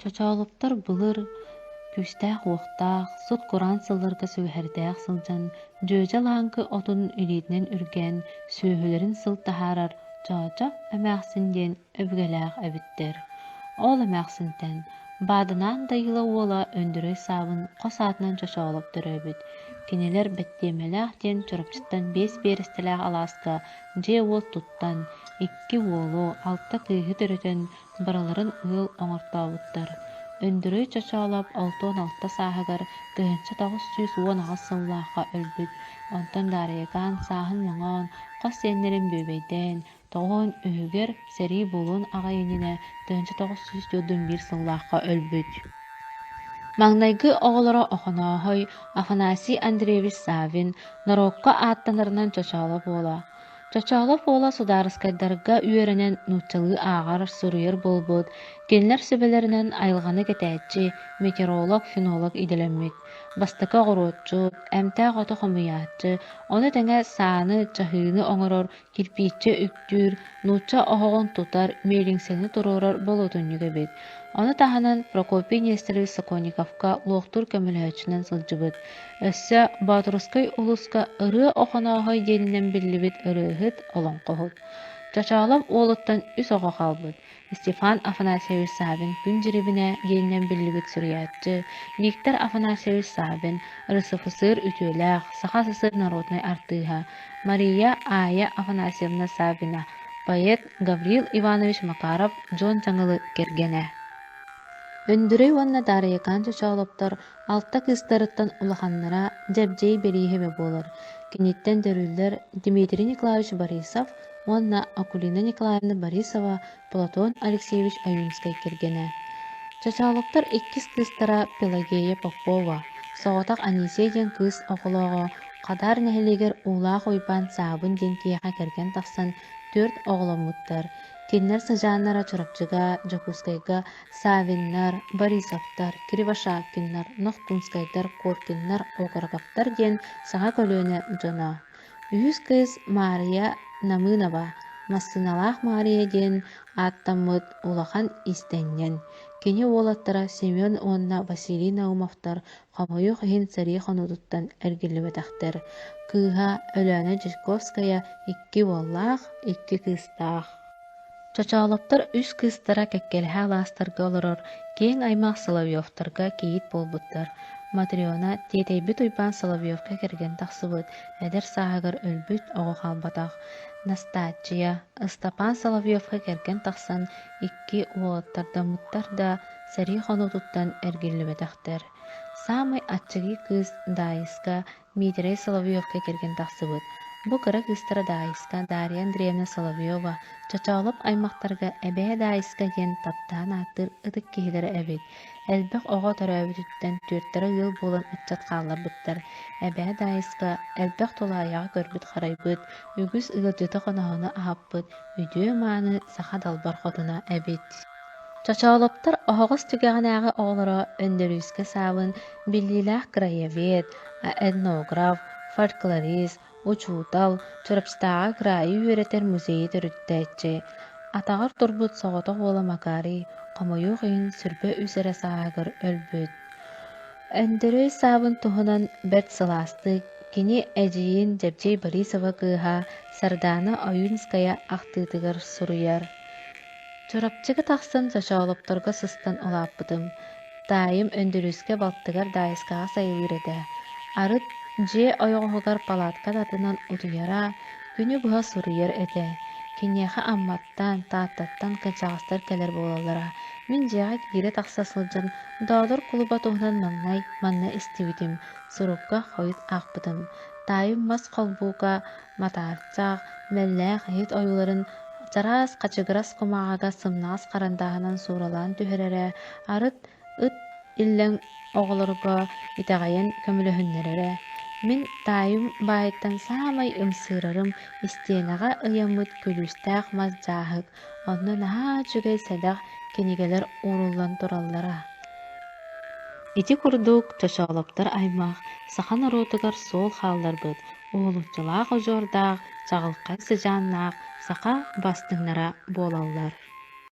Чочоолоптор былыр күүстээх-уохтаах, сут-кураан сылларга сүгэһэрдээх сылдьан, дьүөдьэ лааҥкы отун илиитинэн үргээн, сүөһүлэрин сыл таһаарар Чоочо эмээхсин диэн өбүгэлээх эбиттэр. Ол эмээхсинтэн Бааданаан Дайыла уола Өндүрэй Саабын хос аатынан чочоолоп төрөөбүт. Кинилэр Бэттиэмэлээх диэн Чурапчыттан биэс биэрэстэлээх алааска дьиэ-уот туттан, икки уолу, алта кыыһы төрөтөн, барыларын ыал оҥортообуттар. Өндүрүй Чочоолоп алта уон алта сааһыгар тыһыынча тоҕус сүүс уон аҕыс сыллаахха өлбүт, онтон Даарыйакаан сааһын мөҥөөн, хос сиэннэрин бүөбэйдээн, тоҕуон үһүгэр сэрии буолуон аҕай иннинэ тыһыынча тоҕус сүүс түөртүн биир сыллаахха өлбүт. Маҥнайгы оҕолоро Охонооһой Афанасий Андреевич Саввин норуокка ааттанарынан чочооло буола, Чачаалап уола судаарыскайдарга үөрэнэн нууччалыы ааҕар, суруйар буолбут, кинилэр сүбэлэринэн айылҕаны кэтээччи, метеоролог, фенолог идэлэммит, бастакы оҕуруотчут, эмтээх оту хомуйааччы, ону тэҥэ сааны, чаһыыны оҥорор, кирпииччэ үктүүр, нуучча оһоҕун тутар, миэлиҥсэни туруорар болуотунньук эбит. Ону таһынан Прокопий Нестеров Сокольниковка луохтуур көмөлөһөөччүнэн сылдьыбыт. Өссө Боотурускай улууска Ырыа Охонооһой диэнинэн биллибит ырыаһыт, олоҥхоһут. Чачаалап уолуттан үс оҕо хаалбыт. Стефан Афанасьевич Савин Күн дьирибинэ диэнинэн биллибит суруйааччы, Виктор Афанасьевич Савин, рысофысыр үтүөлээх, саха СССР норуотунай артыыһа, Мария Аайа Афанасьевна Савина, поэт Гаврил Иванович Макаров дьон дьаҥылы кэргэнэ. Өндүрэй уонна Даарыйыкаан Чочоолоптор Алта кыыстарыттан улаханнара Дьэбдьиэй Бэрииһэбэ буолар, киниттэн төрүүллэр Дмитрий Николаевич Борисов уонна Акулина Николаевна Борисова Платон Алексеевич Аюнскай кэргэнэ. Чачаалыктар иккис кыыстара Пелагея Попова, соҕотох Анисия диэн кыыс оҕолооҕо, Хадаар нэһилиэгэр Уулаах Уйбаан Саабын диэн киһиэхэ кэргэн тахсан, түөрт оҕоломмуттар. Кинилэр сыдьааннара Чурапчыга, Дьокуускайга Савиннар, Борисовтар, Кривошапкиннар, Нохкунскайдар, Коркиннар, Окороковтар диэн саха көлүөнэ дьоно. Үһүс кыыс Маарыйа Намыынова «Массыыналаах Маарыйа» диэн ааттаммыт улахан иистэнньэн. Кини уолаттара Семен уонна Василий Наумовтар хомойуох иһин сэрии хонуутуттан эргиллибэтэхтэр. Кыыһа Өлөөнө Чайковская икки уоллаах, икки кыыстаах. Чочоолоптор үс кыыстара кэккэлэһэ алаастарга олорор киэҥ аймах Соловьевтарга кийиит буолбуттар. Матрена тиэтэйбит Уйбаан Соловьевка кэргэн тахсыбыт, эдэр сааһыгар өлбүт, оҕо хаалбатах. Настааччыйа, Ыстапаан Соловьевка кэргэн тахсан, икки уолаттардаммыттар да, сэрии хонуутуттан эргиллибэтэхтэр. Саамай аччыгый кыыс Даайыска Миитэрэй Соловьевка кэргэн тахсыбыт, бу кыра кыыстара Даайыска Дарья Андреевна Соловьева, Чочоолоп аймахтарга Эбээ Даайыска диэн таптаан ааттыыр ытык киһилэрэ эбит. Элбэх оҕо төрөөбүтүттэн түөртэрэ ыал буолан ыччат хаалларбыттар. Эбээ Даайыска элбэх тулаайаҕа көрбүт-харайбыт, үгүс ыалдьыты-хоноһону аһаппыт, үтүө-мааны саха далбар хотуна эбит. Чочоолоптор оһоҕос түгэҕинээҕи оҕолоро Өндөрүүскэ саабын биллиилээх краевед, этнограф, фольклорист, учуутал, Чурапчытааҕы кыраайы үөрэтэр музейы төрүттээччи, атаҕар турбут соҕотох уола Макарий хомойуох иһин сүрбэ үс эрэ сааһыгар өлбүт. Өндөрөй саабын туһунан бэрт сылаастык кини эдьиийин Дьэбдьиэй Борисова кыыһа Сардаана Ойуунская ахтыытыгар суруйар. Чурапчыга тахсан чочоолопторго сыстан улааппытым. Таайым Өндөрүүскэ балтыгар Даайыскаҕа сайылыыр этэ. Арыт дьиэ ойоҕоһугар палаткан атынан утуйара, күнү быһа суруйар этэ. Киниэхэ Амматтан, Тааттаттан кэнчэҕэстэр кэлэр буолаллара. Мин дьиэҕэ киирэ-тахса сылдьан Доодор кулуба туһунан маҥнай манна истибитим, сурукка хойут аахпытым. Таайым мас холбууга матаарсах, мэллээх иһит ойууларын чараас хачыгырас кумааҕыга сымнаҕас харандааһынан сууралаан түһэрэрэ, арыт ыт иллэҥ оҕолорго итэҕэйэн көмөлөһүннэрэрэ. Мин таайым баайыттан саамай ымсыырарым истиэнэҕэ ыйаммыт күлүүстээх мас дьааһык, онно наһаа үчүгэй сэдэх кинигэлэр ууруллан тураллара. Ити курдук чочоолоптор аймах саха норуотугар суол хаалларбыт, Уһулуччулаах удьуордаах, чаҕылхай сыдьааннаах саха бастыҥнара буолаллар